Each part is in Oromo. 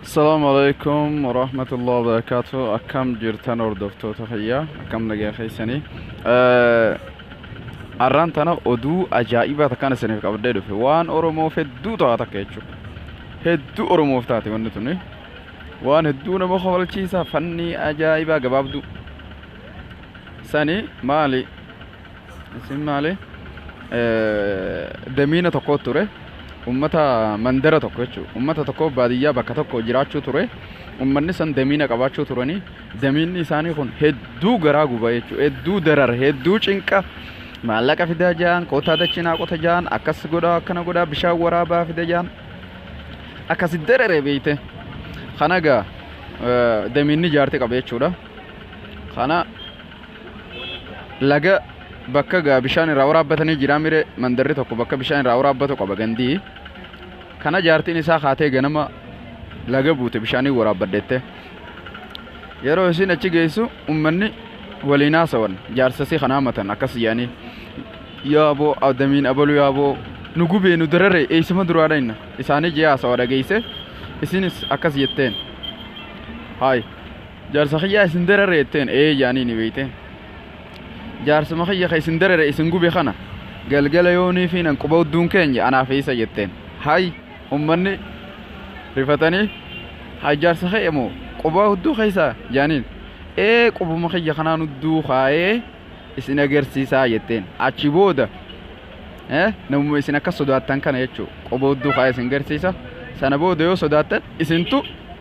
Assalamu alaikum warahmatullahi wabarakatuh. Akkam jirtan hordoftoota kiyya akkam nagaa keessanii. Arraan tana oduu ajaa'ibaa takkaan isiniif qabdee dhufe waan Oromoof hedduu ta'a takka jechuudha. Hedduu Oromoof taate wanni tuni. Waan hedduu nama kofalchiisa fannii ajaa'ibaa gabaabduu. Sani maali Isin maali? Damiina tokko ture. Uummata mandara tokko jechuudha. Uummata tokko baadiyyaa bakka tokko jiraachuu ture. Uummanni san damiina qabaachuu turanii damiinni isaanii kun hedduu garaa guba jechuudha. Hedduu darara, hedduu cinqa. Maallaqa fidaa ja'an, kootaa dachinaa qota ja'an, akkas godhaa akkana godhaa bishaan waraabaa fida ja'an. Akkasi darare beeyte. Kana egaa damiinni jaartii qaba jechuudha. Kana laga bakka gaa bishaan irraa waraabbatanii jiraa mire mandarri tokko bakka bishaan irraa waraabbatu qaba gandii kana jaartiin isaa kaatee ganama laga buute bishaanii waraabbadhette yeroo isiin achi geessu ummanni waliin haasawan jaarsasii kanaa matan akkas yaanii yaaboo adamiin abalu yaaboo nu gubee nu darare eeysuma duraa dhayna isaanii jee haasawa dhageeyse isiinis akkas jetteen haay Jaarsa kiyyaa isin darare jetteen ee jaaniini beeyte. Jaarsuma kiyya ka isin darare isin gube kana galgala yoonii fi nan quba udduun keenya anaaf isa jetteen. Hay ummanni rifatanii hay jaarsa kee moo quba udduu keessaa jaaniin ee qubuma kiyya kanaan udduu kaayee isin agarsiisaa jetteen. Achi booda eh, namuma isin akka sodaattan kana jechuu quba udduu kaayee isin garsiisa sana booda yoo sodaattan isintu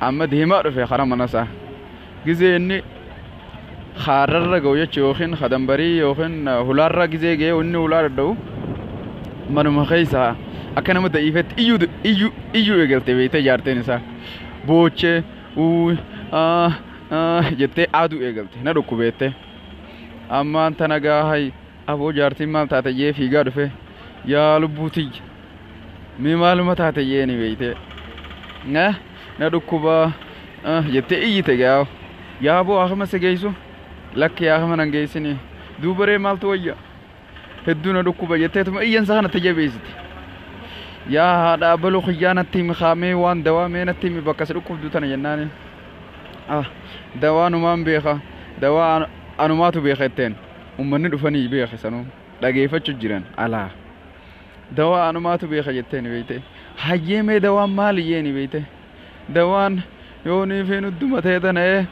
Amma deemaa dhufe karaa mana isaa. Gizee inni kaarrarra ga'u jechuun yookiin kadanbarii yookiin hulaarra gizee ga'ee inni hulaa dadhabu manuma keessa akka nama da'iifetti iyyuu iyyuu iyyuu eegalte beektee jaarteen isaa boochee uuy aa aa jettee aaduu eegalte na dhukkubeettee ammaan tana gaahay Aboo jaartiin maal taate jee fiigaa dhufe yaa lubbuu tiyya mee maaluma taate jee ni beeyte na na dhukkubaa ah, jettee iyyite gaa yaa aboo akama si geeysu lakki yaa akama nan geeysini duubaree maaltu wayya hedduu na dhukkuba jetteetuma iyyansa kana itti jabeeysite yaa haadha abaluu kiyyaa natti himi kaamee waan dawaa mee natti himi bakka si dhukkubdu tana jennaani ah dawaa numaan beeka dawaa an- anumaatu beeka jetteen Ummanni dhufanii beeke sanuu dhageefachu jiran alaa dawaa anumaatu beeka jettee ni beeyte hayyee mee dawaan maali jee ni beeyte dawaan yoo ni feen uddu matee tana ee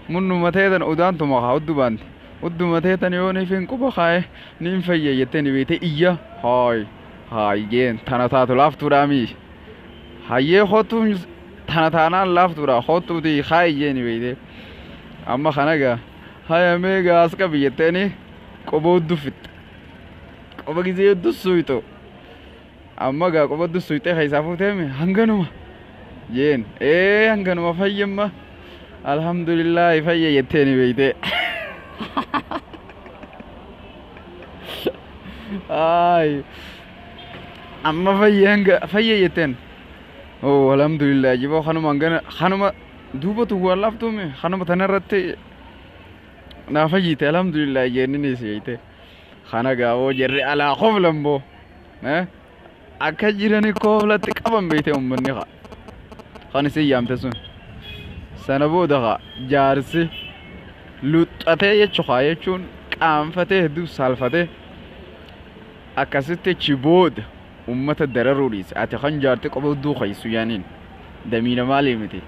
munnu matee tana udaan tuma kaa uddu baanti uddu matee tana yoo ni feen quba kaa'e ni hin fayya jettee ni beeyte iyya haay haay jeen tana taatu laaftuudhaa mii hayyee kottuu tana taanaan laaftuudhaa kottuutii kaa'i jee ni beeyte Amma kana egaa haya mee egaa as qabi jetteeni qoba hudduu fixxe. Qoba gizee hudduu suuyxu. Amma egaa qoba hudduu suuyxee keessaa fuutee mi hanganuma jeen ee hanganuma fayyamma alhamdulillaahi fayya jetteeni beeytee. Ay. Amma fayya hanga fayya jetteen. Oo alhamdulillah jiboo kanuma hangana kanuma Duuba tu waan laaftuu mi kanuma tana irratti naa fayyite alhamdulillah jeenni si jeete kana gaawoo jirri alaa koflan boo akka jirani koflatti qaban beeyte ummanni kaa kan isin yaamte sun sana booda kaa jaarsi luxxatee jechu kaa jechuun qaanfatee hedduu saalfatee akkasitti achi booda Ummata dararuu dhiisi ati kan jaarti qofa hudduu keessu yaaniin damiina maalii miti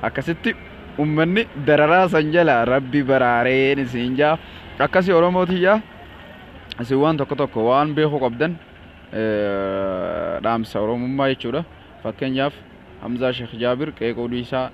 akkasitti ummanni dararaa san jala rabbi baraareen isiin jaa akkasi oromoo tiyyaa isin waan tokko tokko waan beekuu qabdan dhaamsa oromummaa jechuudha fakkeenyaaf hamzaa sheekh jaabir qeequu dhiisaa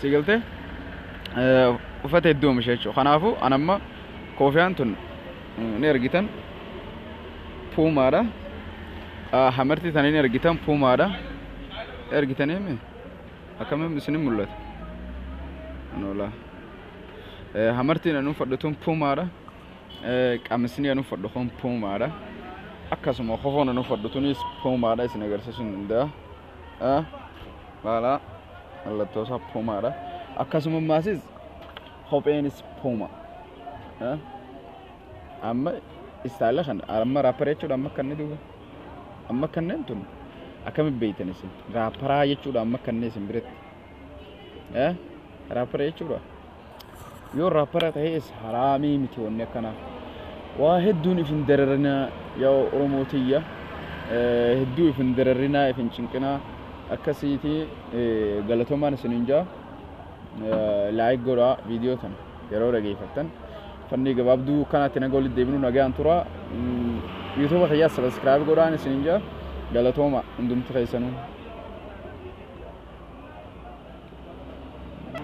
Si galte uffata hedduu oomisha jechuudha. Kanaafuu an amma koofiyaan tun ni argitan puumaadha. Hamartii tana ni argitan puumaadha. Argitanii mi? Akkamiin isin mul'ata? Noolaa. Hamartiin an uffadhu tun puumaadha. Qamisni an uffadhu kun puumaadha. Akkasuma kofoon an uffadhu tunis puumaadha isin agarsiisuun danda'a. Haala mallattoo isaa puumaadha. Akkasuma maasis kopheenis puuma. Amma istaayila kana amma raappara jechuudha amma akka inni duuba. Amma akka inni tun akkamitti beektan isin raapparaa jechuudha amma akka inni isin biratti. Raappara jechuudha. Yoo raappara ta'es haraamii miti wanni akkana. Waa hedduun ifin dararinaa yaa Oromoo tiyya. Hedduu ifin dararinaa ifin cinqinaa akkasiiti galatomaan isinin jaa. Laayik godhaa viidiyoo tana yeroo dhageeffattan. Fannii gabaabduu kanaatti naga walitti deebinu nagaan tura. Yuutuuba kiyyaa sabiskiraayib godhaan isinin jaa. Galatooma hundumti keessanuu.